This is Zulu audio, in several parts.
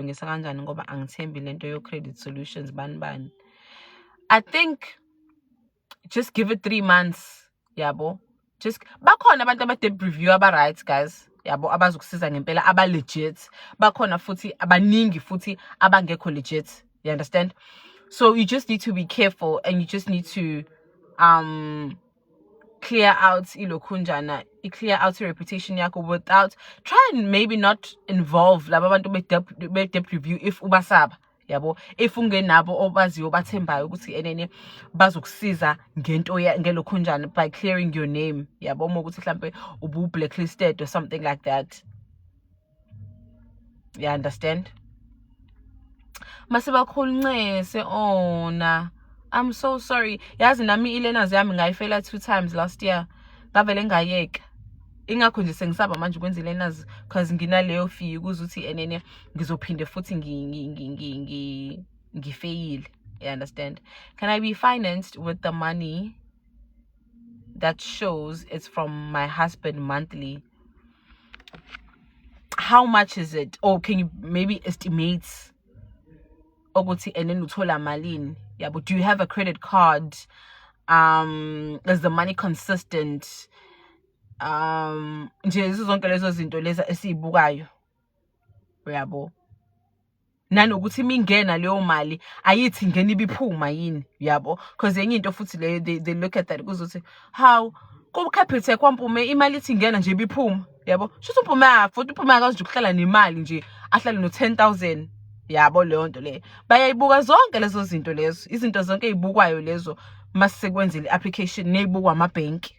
ngisa kanjani ngoba angithembi lento yo credit solutions bani bani i think just give it 3 months yabo just bakhona abantu abade review aba right guys yabo abazokusiza ngempela aba legit bakhona futhi abaningi futhi abangekho legit you understand so you just need to be careful and you just need to um clear out ilokhunjana i-clear out i-reputation yakho without try and maybe not involve laba bantu be-debt review if ubasaba yabo if ungenabo obaziyo obathembayo ukuthi enene bazokusiza ngento ngelokhunjana by clearing your name yabo uma ukuthi mhlampe ubu-blacklisted or something like that you understand masibakhuluncese ona oh, i'm so sorry yazi nami i-learners yami ngayifela two times last year ngavele ngayeka ingakho nje sengisaba manje ukwenza i-learners because nginaleyo fee ukuze ukuthi enene ngizophinde futhi ngifeyile you understand can i be financed with the money that shows it's from my husband monthly how much is it or can you maybe estimate ukuthi and then uthola malini yabo do you have a credit card um is the money consistent um nje zonke lezo zinto lezi esizibukayo uyabo nanokuthi uma ingena leyo mali ayithi ngena ibiphuma yini yabo because enye into futhi leyo they, they look at that kuzothi how kukhaphethe kwampume imali ithi ingena nje ibiphuma yabo shuthi umpume afuthi uphume akazi nje ukuhlala nemali nje ahlale no 10000 yabo leyo nto leyo bayayibuka zonke lezo zinto lezo izinto zonke ezibukwayo lezo masisekwenzile application nezibukwa amabhenki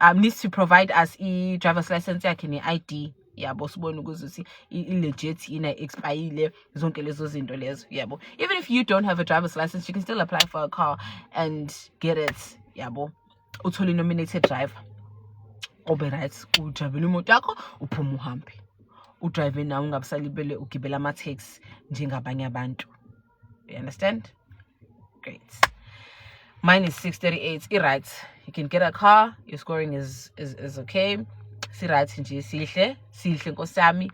um needs to provide us i-driver's license yakhe ne-i d yabo sibone ukuthi i-legit yini expayile zonke lezo zinto lezo yabo even if you don't have a driver's license you can still apply for a car and get it yabo uthole nominated driver obe right ujabela imoto yakho uphuma uhambe udrive nawe ungabusalibele ugibela ama-taxi njengabanye abantu you understand great mine is 638 i-right you can get a car your scoring is, is, is okay si-right nje sihle sihle nkosi yami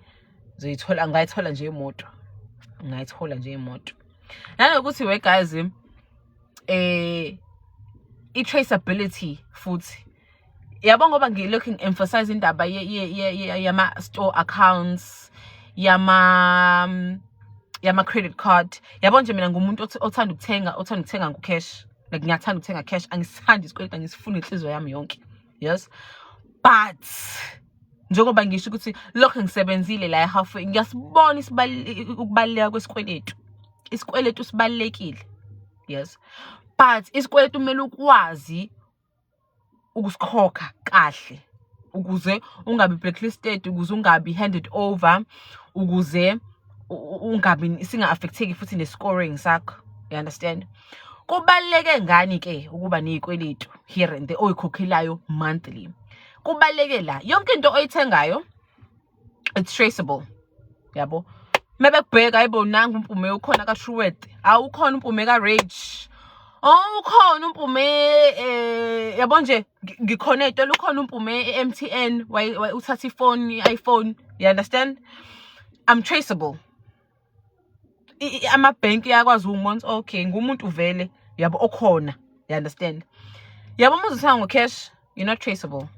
zoyithola ngayithola nje imoto ngayithola nje imoto nanokuthi we guys eh i-traceability futhi yabo ngoba ngilokhu ngi-emphasize indaba yama-store accounts yama yama-credit card yabo nje mina ngumuntu othanda ukuthenga othanda ukuthenga ngo-cash like ngiyathanda ukuthenga cash angisithandi isikweleta ngisifuna inhliziyo yami yonke yes but njengoba ngisho ukuthi lokho ngisebenzile la ehalfway ngiyasibona ukubaluleka kwesikweletu isikweletu sibalulekile yes but isikweletu kumele ukwazi ukusikhokha kahle ukuze ungabi blacklisted ukuze ungabi handed over ukuze ungabi singa-affect-eki futhi ne-scoring sakho you understand kubaluleke ngani ke ukuba nezikweletu here and there oyikhokhelayo monthly kubaluleke la yonke into oyithengayo it's traceable yabo mebekubheka ayibo nangu umpume ukhona ka-truwet awukhona umpume ka-rage Oh ukhona umpume eh yabo nje ngikhona ezitolo ukhona umpume e-MTN uthatha ifoni i-iPhone you understand I'm traceable amabhenki yakwazi umonts okay ngumuntu vele yabo okhona you understand yabo uma uzithenga ngo-cash you're not traceable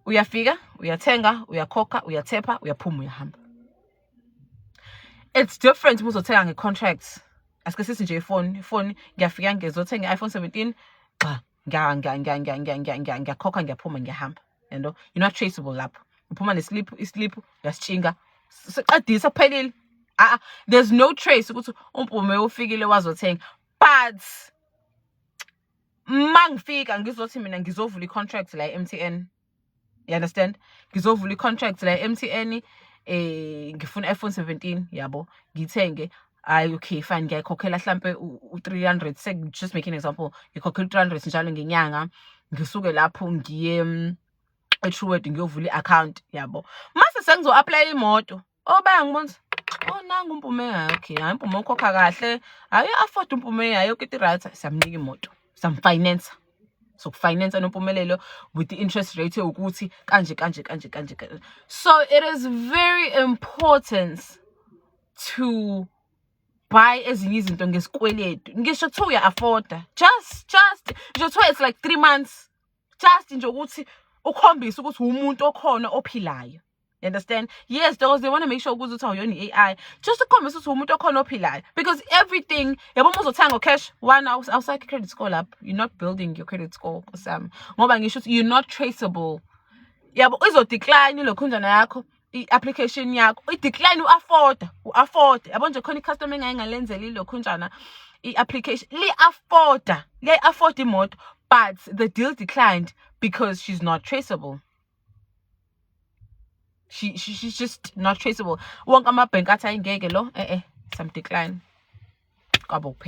uyafika uyathenga uyakhokha uyathepha uyaphuma uyahamba it's different uma uzothenga nge-contract asike sithi nje ifoni ifoni ngiyafika ngizothenga i-iphone 17 gxa ngiyakhokha ngiyaphuma ngiyahamba yento you're not traceable lapho uphuma nesiliphu isiliphu uyasitshinga siqedisa kuphelile ah there's no trace ukuthi umpume ufikile wazothenga but mangifika ngizothi mina ngizovula i-contract la e-mtn you understand ngizovula i-contract la e-mtn um eh, ngifuna i-iphone 17 yabo ngithenge hayi okay fine ngiyayikhokhela hlampe u-three hundred just make an example ngikhokhela u-three hundred njalo ngenyanga ngisuke lapho ngiye mm, e-trueword ngiyovula i-akhawunti yabo mase sengizo-aplayela imoto Obaya ngibona oh nangu umpume yakhe hayi umpume ukhokha kahle hayi afford umpume yayo kiti right samnika imoto samfinance sokufinance nompumelelo with the interest rate ukuthi kanje kanje kanje kanje so it is very important to buy ezinye izinto ngesikweletu ngisho kuthiwa uya-afforda just just ngisho kuthiwa it's like three months just nje ukuthi ukhombise ukuthi umuntu okhona ophilayo You understand? Yes, those they want to make sure ukuthi uthi awuyona i-AI. Just to ukukhombisa ukuthi umuntu okhona ophilayo. Because everything, yabo uma uzothenga cash, one outside credit score up. You're not building your credit score Sam. Ngoba ngisho ukuthi you're not traceable. Yabo izodecline lokhunjana yakho i-application yakho. I-decline u-afforda, u-afforda. Yabo nje khona i-customer engaye ngalenzela ilokhunjana i-application. Li-afforda, liyayi-afforda imoto but the deal declined because she's not traceable. she, she, she's just not traceable wonke amabhenki athi ayingeke lo e-e some decline kwabo kuphela